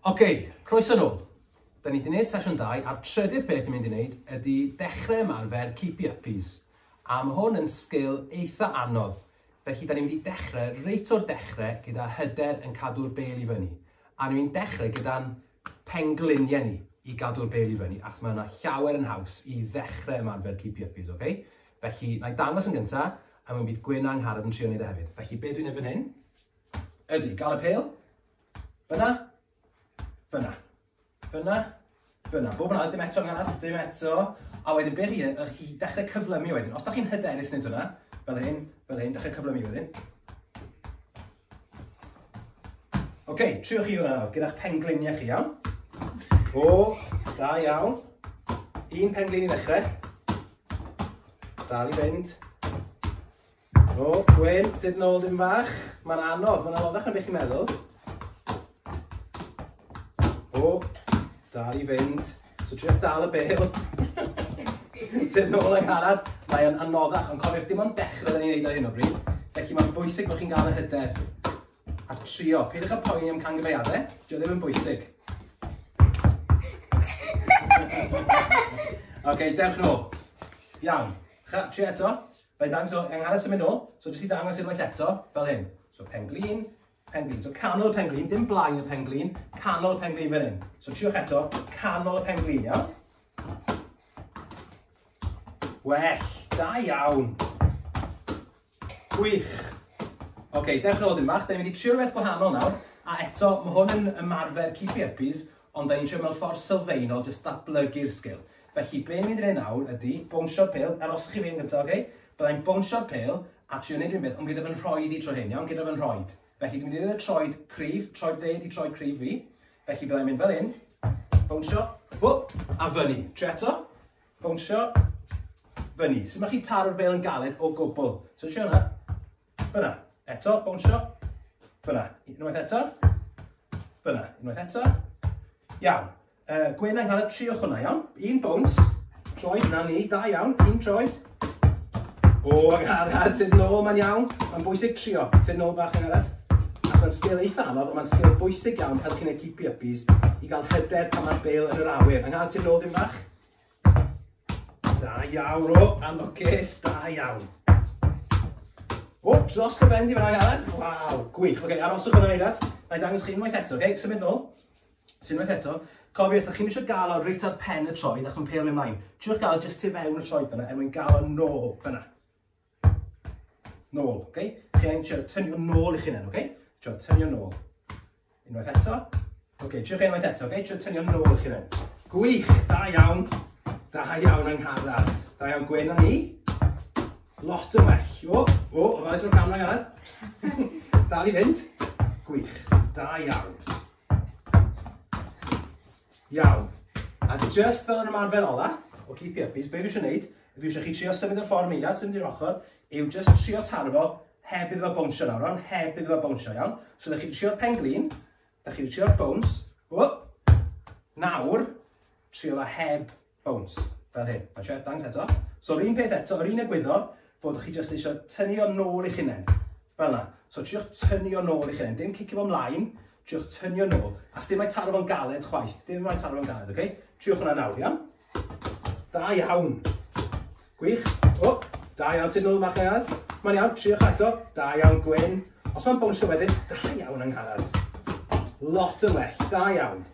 Ok, croeso nôl. Da ni wedi gwneud sesiwn dau a'r trydydd beth ni'n mynd i wneud ydy dechrau ymarfer Keep Your Uppies. A mae hwn yn sgil eitha anodd. Felly, da ni'n mynd i dechrau reit o'r dechrau gyda hyder yn cadw'r bêl i fyny. A ni'n mynd dechrau gyda'n pengliniau ni i gadw'r bêl i fyny, achos mae yna llawer yn haws i ddechrau ymarfer keepy uppies, ok? Felly, na i dangos yn gyntaf, a mi bydd Gwyn a Angharad yn trio wneud e hefyd. Felly, be dwi'n ei fan hyn, ydy, gael y pêl, fyna, fyna. Fyna, fyna, bob yn ail, dim eto yn arall, dim eto. A wedyn be chi, ych chi dechrau cyflymu wedyn. Os da chi'n hyderus nid hwnna, fel hyn, fel hyn, dechrau cyflymu wedyn. Oce, okay, triwch chi hwnna nawr, gyda'ch pengliniau chi, iawn? O, da iawn. Un penglin i ddechrau. Dal i fynd. O, Gwyn, tyd nôl dim fach. Mae'n anodd, mae'n anoddach na beth i'n meddwl. O, da i fynd. So triwch dal y bel. tyd nôl yng ngharad. Mae'n anoddach, ond cofiwch dim ond dechrau ni'n neud ar hyn o bryd. Felly mae'n bwysig bod chi'n gael y hyder a trio. Pidwch y poeni am cangyfeiadau, dio ddim yn bwysig. Oce, okay, dewch nôl. Iawn. Chi eto? Fe dan, so e'n nghanol symud nôl, so jyst i ddangos unwaith eto, fel hyn. So pen glin, pen glin. So canol y pen glin, dim blaen y pen glin, canol y pen glin fel hyn. So triwch eto, canol y pen glin, iawn? Well, da iawn. Gwych. Oce, okay, dewch yn ôl dim bach, da ni'n mynd i trio rhywbeth gwahanol nawr, a eto, mae hwn yn ymarfer keep burpees, Ond da ni'n trio mewn ffordd sylfaenol jyst datblygu'r sgil. Felly be ni'n mynd i wneud nawr ydy bownsio'r pêl, aroswch chi fan gyda, oce? Bydda i'n bownsio'r pêl a trio wneud rhywbeth, ond gyda fy nhroed i tro hyn, iawn? Gyda fy nhroed. Felly dwi'n mynd i ddweud y troed cryf, troed dde ydi troed cryf fi. Felly bydda i'n mynd fel hyn, bownsio, whoop, a fyny. Trio eto, bownsio, fyny. Sut mae chi taro'r bêl yn galed o gwbl. So trio hwnna. Fyna. Eto, bownsio. Fyna. Unwaith eto. Fyna. Unwaith eto. Iawn. Uh, Gwen a'n cael y tri o hwnna, iawn? Un bowns. Troed, na ni. Da iawn. Un troed. O, agharad, sydd nôl, mae'n iawn. Mae'n bwysig trio. Sydd nôl bach yn arall. Ac mae'n sgil eitha anodd, ond mae'n sgil bwysig iawn helpu'n y keepy uppies i gael hyder pan mae'r bel yn yr awyr. Yng Nghael ti'n nôl ddim bach. Da iawn, o, am y ces, da iawn. O, dros y bendi fyna, Aled. Waw, gwych. Oce, okay, aroswch yna, Aled. Na i dangos chi unwaith eto, oce? Okay? Symud nôl. Symud unwaith eto. Cofiwch, ydych chi'n eisiau gael o reit ar pen y troed ac yn peil ymlaen. Triwch gael jyst tu fewn y troed fyna, er mwyn gael o nôl fyna. Nôl, ok? Chi angen trio tynnu fo nôl i chi nawr, ok? Trio tynnu o nôl. Unwaith eto. Ok, trio fe unwaith eto, ok? Trio tynnu o nôl i chi nawr. Gwych, da iawn. Da iawn yng Ngharad. Da iawn Gwen a ni. Lot yn well. O, o, o, oes o'r camera Garad. Dal i fynd. Gwych, da iawn. Iawn. A just fel yn ymarfer ola, o keep it up, be dwi eisiau gwneud, dwi eisiau chi trio symud y ffordd yn eiliad, symud i'r ochr, yw just trio taro fo heb iddo fo bownsio nawr, ond heb iddo fo bownsio, iawn? So da chi'n trio pen glin, da chi'n trio bounce, o, nawr, trio fo heb Bowns, fel hyn. Paid siarad, dangos eto. So, yr un peth eto, yr un egwyddor, bod chi jyst eisiau tynnu o'n nôl i'ch hunain. Fel yna. So, triwch tynnu o'n nôl i'ch hunain. Dim cicio fo mlaen, triwch tynnu o'n nôl. A sdim mae taro fo'n galed chwaith. Dim mae taro fo'n galed, oce? Okay? Triwch hwnna nawr, iawn? Da iawn! Gwych. O! Da iawn Tynwl y Marchnad. Mae'n iawn, triwch eto. Da iawn Gwyn. Os mae'n bownsio wedyn, da iawn Angharad. Lot yn well, da iawn.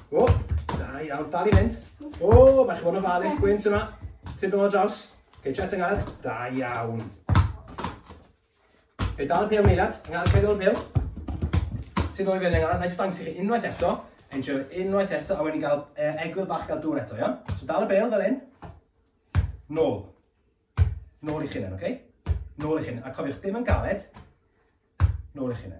O! Da iawn, dal i fynd. O! Mae chi bod yn ofalus, Gwyn, tyma. Tynwl o draws. Geitio eto Angharad. Da iawn. Fe dal y pêl meilad, yng nghanol pedwar pêl. Sy'n dod i fewn yng nghanol, naill stangs i chi unwaith eto, enjoy unwaith eto, a wedyn gael uh, egwyl bach gael dŵr eto, iawn? So dal y bel fel hyn. Nôl. Nôl i chi hynny, oce? Okay? Nôl i chi hynny. A cofiwch, dim yn galed. Nôl i chi hynny.